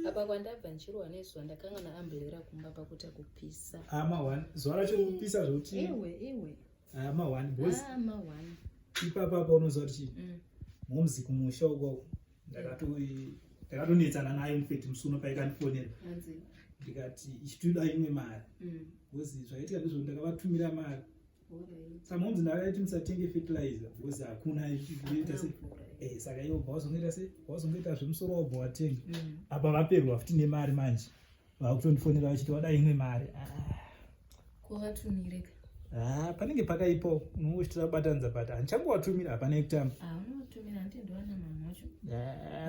apa kwandabva ndichirohwa nezuva ndakanga naamberera kumba pakuita kupisa ama ah, one zuva racho kupisa zvokuti iwe iwe ama ah, one boys ama ah, one ipapa apa unoziva kuti chii mm. momzi kumusha uko ndakatonetsana naye mufeti musi uno paikandifonera ndikati ichitoda imwe mari mm. bcoz zvaitika ndizvo ndakavatumira mari Saka munzi ndakaiti musatenge fertilizer because hakuna ita se eh saka iwo bawazongoita se bawazongoita zvemusoro wabva watenga mm. apa vaperwa futi nemari manje vakutondifonera vachiti wada imwe mari ah. kuvatumire ah, panenge pakaipo unongochitira kubatanidza but handichangowatumira hapana ekutamba ah, unovatumira hanti ndowana mamhocho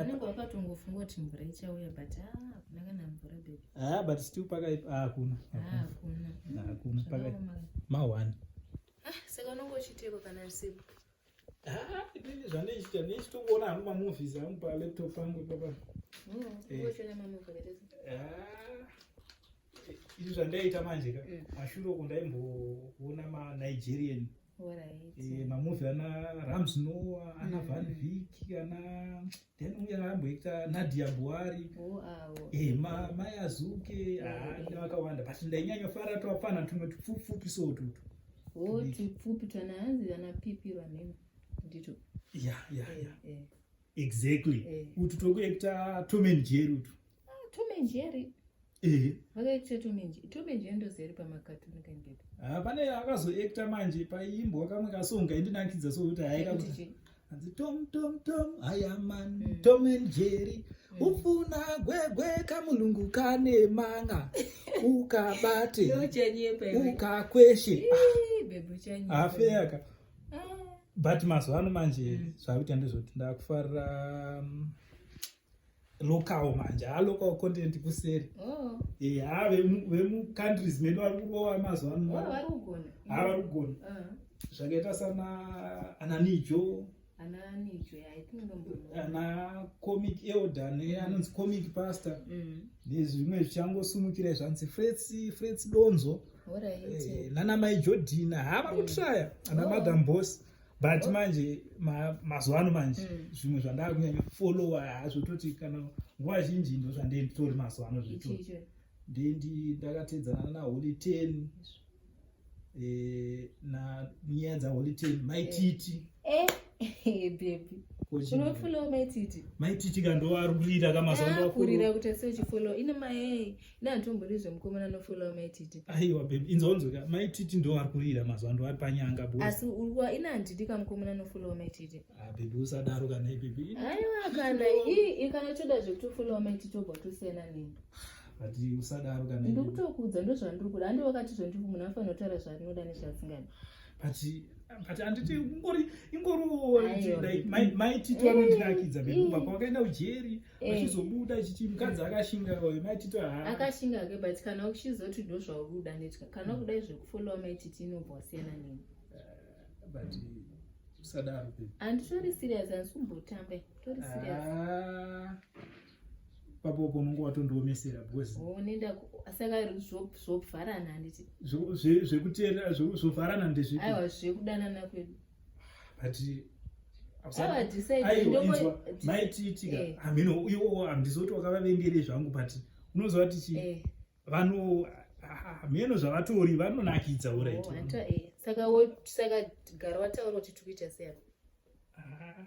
unenge wakatongofunga kuti mvura ichauya but hakuna kana mvura bebi Ah, but still pakaipa ah, hakuna ah, hakuna pakaipa ma one ah, saka unonge uchiteko kana usiku inini ah, zvandichita ndichitongoona hangu mamovies angu palaptop pangu ipapa mm, eh. izvi zvandaiita manje ka mm. mashure uku ndaimboona manigerian mamuvi ana rams noa ana mm. van vic ana then uya amboita nadia buhari eh, mai azuke nevakawanda but ndainyanya fara twapfana tumwe tupfupfupi so tutu o tupfupi twanaanzi vana pipi vanhema ndito ya ya eh, ya eh. exactly utu tokuekta tomen jeri utu ah, tomen jeri Eh. Vakaitisa Tomenji. Tomenji andozeri pamakatuni kandida. Ah, pane akazoactor manje paimbwa kamwe kasonga indinakidza so kuti haika kuti. Hanzi Tom Tom Tom I am man mm. Tom and Jerry. Mm. Ufuna gwegwe kamulungu kane manga. Ukabate. Ukakweshe. Ah, Afeyaka. Ah. But mazuva ano manje mm. zvakuita ndezvoti ndakufarira mm, local manje haa local content kuseri oh. eh, haa vemucountries medu vari kurova mazuva ano haa vari kugona uh-huh. zvakaita sana ananijo ana comic elder ne anonzi comic pastor mm. nezvimwe zvichangosumukira zvanzi frets frets donzo eh, nana mai jodina haa vakutraya ana mm. madam boss but manje mazuva ano manje mm. zvimwe zvandaa kunyanya followa hazvo toti kana nguva zhinji ndo zvandenditori mazuva ano zvito ndendi ndakatedzana naholy ten eh, na nyaya dzaholy ten maititi eh. eh, maititi ka ndoarurira kamazakurira kuti asiochifollow ine maei neantomborizve mukomana anofolawo maititi aiwa bebi inzonzweka maititi ndo ari kurira mazuva ando ari panyanga bo asi urwa ina handidi ka mukomana anofolawo maititi a ah, bebi usadaro kana ibebi aiwa kana ii kana toda zvekutofolawo maititi obva tosiyana nini but usadaro kana ndikutokuudza ndo zvandiri kuda andi wakati zvandiri munhu anofanira kutaura zvaanoda nezvaasingadi but but anditi ingori ingori maititi anondinakidza bebi ubva kwakaenda ujeri mm. Eh. achizobuda chichi mukadzi akashinga uyu maitito haa akashinga ke but kana uchizoti ndo zvaukuda ndoita kana mm. ukuda zvekufollowa maititi inobva wasiyana neni eh, but usadaro pe handitori serious handisi kumbotambe tori ah. serious papopo unonge watondiomesera because unenda saka zvovharana handiti zvekuteera zvovharana ndezvipi aiwa zvekudanana kwedu but maitiitika eh. hameno uyo handizoti wakavavengere zvangu but unoziva tichi eh. vano hameno zvavatori vanonakidza oh, urit eh. saka gara wataura kuti tikuita sei ah.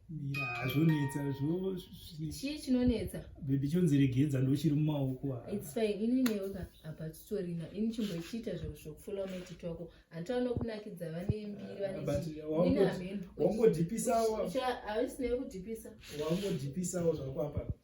mira hazvonetsa chii chinonetsa bebi chonziregedza ndochiri mumaoko its fine ini neyoka apa titorina ini chimbochiita zviro zvokufula meti twako hanti vanokunakidza vane mbiri vanewangodhipisawo havisinayo kudhipisawangodhipisawo zvako apa